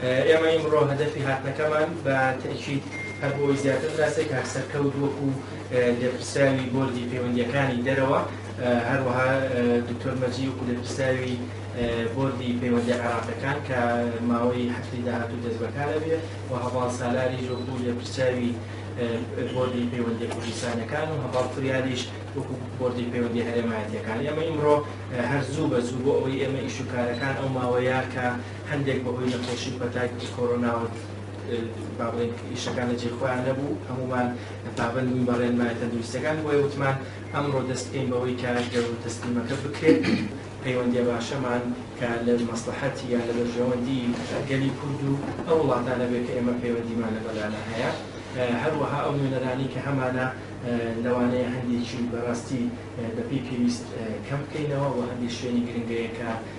ئێمە ئیمڕۆ هەدەفی هاتنەکەمان بە تەئکید هەر بۆ ئەوەی زیاتر بناسرێت کاک سەرکەوت وەکو لێپرسراوی بۆردی پەیوەندییەکانی دەرەوە، هەروەها دکتۆر مەجی وەکو لێپرسراوی بۆردی پەیوەندییە عێراقییەکان کە ماوەی هەفتەی داهاتوو دەست بەکار ئەبێ و هەڤاڵ سالاریش وەکو لێپرسراوی بۆردی پەیوەندییە کوردستانییەکان و هەڤاڵ فریالیش وەکو بۆردی پەیوەندییە هەرێمایەتییەکان ئێمە ئیمڕۆ هەر زوو بە زوو بۆ ئەوەی ئێمە ئیش و کارەکان ئەو ماوەیە کە هەندێک بە هۆی نەخۆشی و پەتای کۆرۆناوە با بڵێین ئیشەکان لە جێی خۆیان نەبوو، هەموومان پابەند بووین بە ڕێنمایە تەندروستییەکان، بۆیە وتمان ئەمڕۆ دەست بکەین بەوەی کە گەروو تەسلیمەکە بکرێت و پەیوەندییە باشەمان کە لە مەسڵەحەتی یان لە بەرژەوەندی گەلی کورد و ئەو وڵاتانە بێت کە ئێمە پەیوەندیمان لەگەڵیانە هەیە، هەروەها ئەو نوێنەرانەی کە هەمانە لەوانەیە هەندێکی بەڕاستی بەپێی پێویست کەم بکەینەوە و هەندێک شوێنی گرنگەیە کە.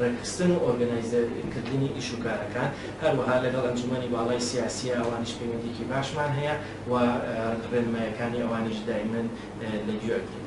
ڕێکخستن و ئۆرگەنایزەرکردنی ئیش و کارەکان، هەروەها لەگەڵ ئەنجوومەنی باڵای سیاسییە ئەوانیش پەیوەندییەکی باشمان هەیە و ڕێنماییەکانی ئەوانیش دایمەن لە گوێ ئەگرین.